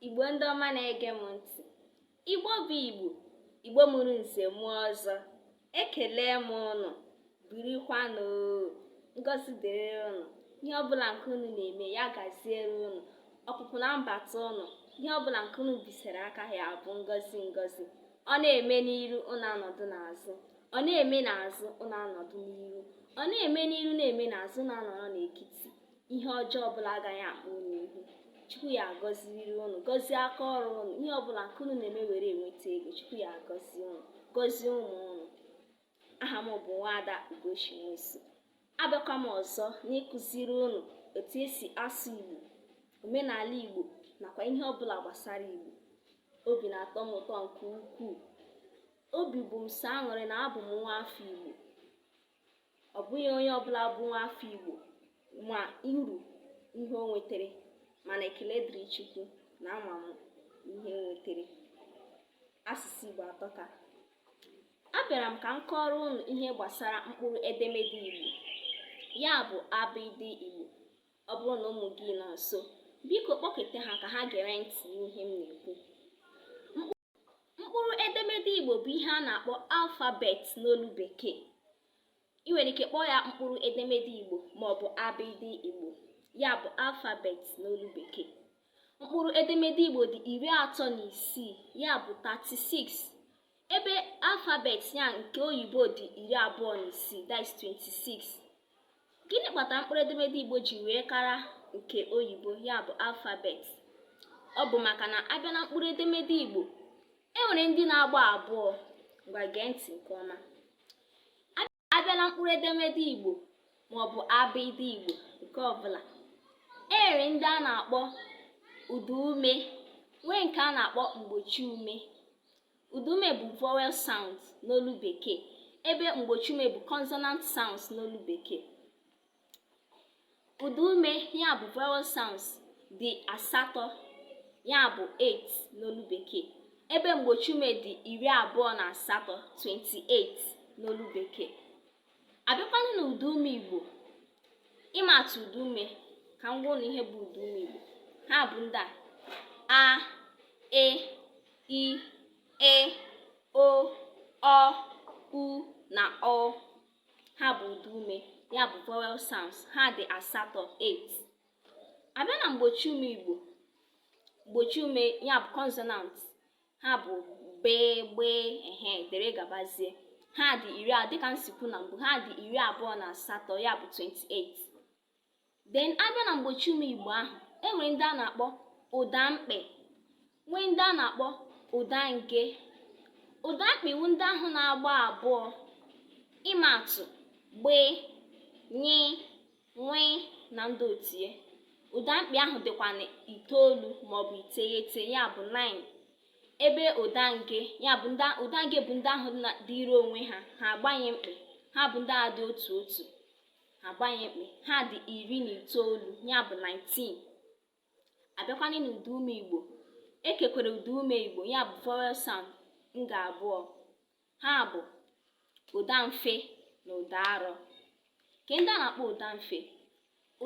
Igbo ndị ọma na-ege m ntị Igbo bụ Igbo Igbo mụrụ nze mụọ ọzọ ekele m ụnụ birikwanụ ngọzi dịrị ụnụ ihe ọbụla nke unu na-eme ya gaziere ụnụ ọpụpụ na mbata ụnụ ihe ọbụla nke unu bisere aka ya bụ ngọzi ngọzi ọ na-eme n'iru ụnụ anọdụ n'azụ ọ na-eme n'azụ ụnụ anọdụ n'iru ọ na-eme n'iru na-eme n'azụ ụnụ anọrọ n'ekiti ihe ọjọọ ọbụla agaghị akpọ unu ihu chukwu ya agọziriri unu gọzie aka ọrụ unu ihe ọbụla nke unu na-eme were enweta ego chukwu ya agọzie unu gọzie ụmụ unu aha m bụ nwaada ugochi nwosu abịakwa m ọzọ n'ịkụziri unu otu esi asụ igbo omenala igbo nakwa ihe ọbụla gbasara igbo obi na-atọ m ụtọ nke ukwuu obi bụ m sọ aṅụrị na abụ m nwa afọ igbo ọ bụghị onye ọbụla bụ nwa afọ Igbo ma uru ihe o nwetara mana ekele dịrị Chukwu na ama m ihe m nwetara asụsụ Igbo atọka abịara m ka m kọọrọ unu ihe gbasara mkpụrụ edemede Igbo ya bụ abịdị Igbo ọ bụrụ na ụmụ gị nọ nso biko kpọkete ha ka ha gere ntị n'ihe m na-ekwu mkpụrụ edemede igbo bụ ihe a na-akpọ alfabet n'olu bekee i nwere ike kpọọ ya mkpụrụ edemede igbo maọbụ abịdị igbo ya bụ alfabet n'olu bekee mkpụrụ edemede igbo dị iri atọ na isii ya bụ 36 ebe alfabet ya nke oyibo dị iri abụọ na isii that is 26 Gịnị kpatara mkpụrụ edemede Igbo ji wee kara nke oyibo ya bụ alfabet? Ọ bụ maka na abịa na mkpụrụ edemede Igbo e nwere ndị na-agba abụọ ngwa gee ntị nke ọma abịa na mkpụrụ edemede Igbo maọbụ abịdị Igbo nke ọbụla e nwere ndị a na-akpọ ụdaume nwee nke a na-akpọ mgbochiume Ụdaume bụ vowel sounds n'olu Bekee ebe mgbochiume bụ consonant sounds n'olu Bekee. Ụdaume ya bụ vowel sounds dị asatọ ya bụ 8 n'olu Bekee ebe mgbochiume dị iri abụọ na asatọ 28 n'olu Bekee. abịakwanụ na ụdaume igbo ịma atụ ụdaume ka m gwa unu ihe bụ ụdaume igbo ha bụ ndị a a e i ị o ọ u na ụ ha bụ ụdaume ya bụ vowel sounds ha dị asatọ 8 abịa na mgbochiume igbo mgbochiume ya bụ consonant ha bụ b gb ehe dere gabazie ha dị iri a dịka m si kwuo na mbụ ha dị iri abụọ na asatọ ya bụ 28 then abịa na mgbochi ume igbo ahụ enwere ndị a na-akpọ ụda mkpị nwee ndị a na-akpọ ụda nge ụda mkpị wụ ndị ahụ na-agba abụọ ịma atụ gb ny nw na ndị otie ụda mkpị ahụ dịkwa na itoolu maọbụ iteghete ya bụ 9 ebe ụda nge ụda nge bụ ndị ahụ dịịrị onwe ha ha agbaghị mkpị ha bụ ndị a dị otu otu ha agbaghị mkpị ha dị iri na itoolu ya bụ 19 abịakwanị n'ụda ume igbo ekekwere ụda ume igbo ya bụ vowel sound nga abụọ ha bụ ụda mfe na ụda arọ ke ndị a na-akpọ ụda mfe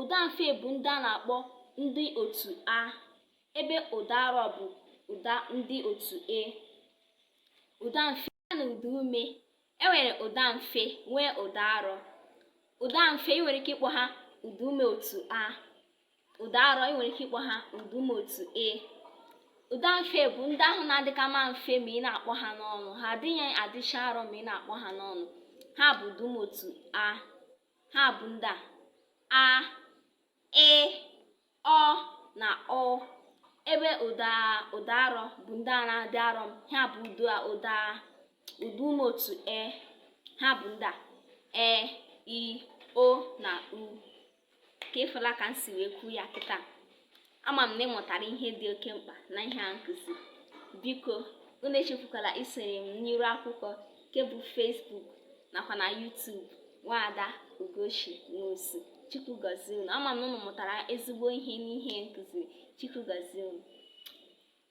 ụda mfe bụ ndị a na-akpọ ndị otu a ebe ụda arọ bụ ụda ndị otu e ụda mfe ya na ụda ume e nwere ụda mfe nwee ụda arọ ụda mfe ị nwere ike ịkpọ ha ụda ume otu a ụda arọ ị nwere ike ịkpọ ha ụda ume otu e ụda mfe bụ ndị ahụ na-adịka ma mfe ma ị na-akpọ ha n'ọnụ ha adịghị adịcha arọ ma ị na-akpọ ha n'ọnụ ha bụ ụda ume otu a ha bụ ndị a a ị ọ na ụ ebe ụda ụda arọ bụ ndị a na-adị arọ m ha bụ ụda ụda ume otu e ha bụ ndị a e i o na u ka ịfụla ka m si wee kwuo ya kịta ama m na ịmụtara ihe dị oke mkpa na ihe a m kụziri biko unu echefukwala isonye m n'iru akwụkwọ nke bụ Facebook nakwa na YouTube nwaada Ugochi Nwosu Chukwu gọzie unu ama m na unu mụtara ezigbo ihe n'ihe m kụziri Chukwu gọzie unu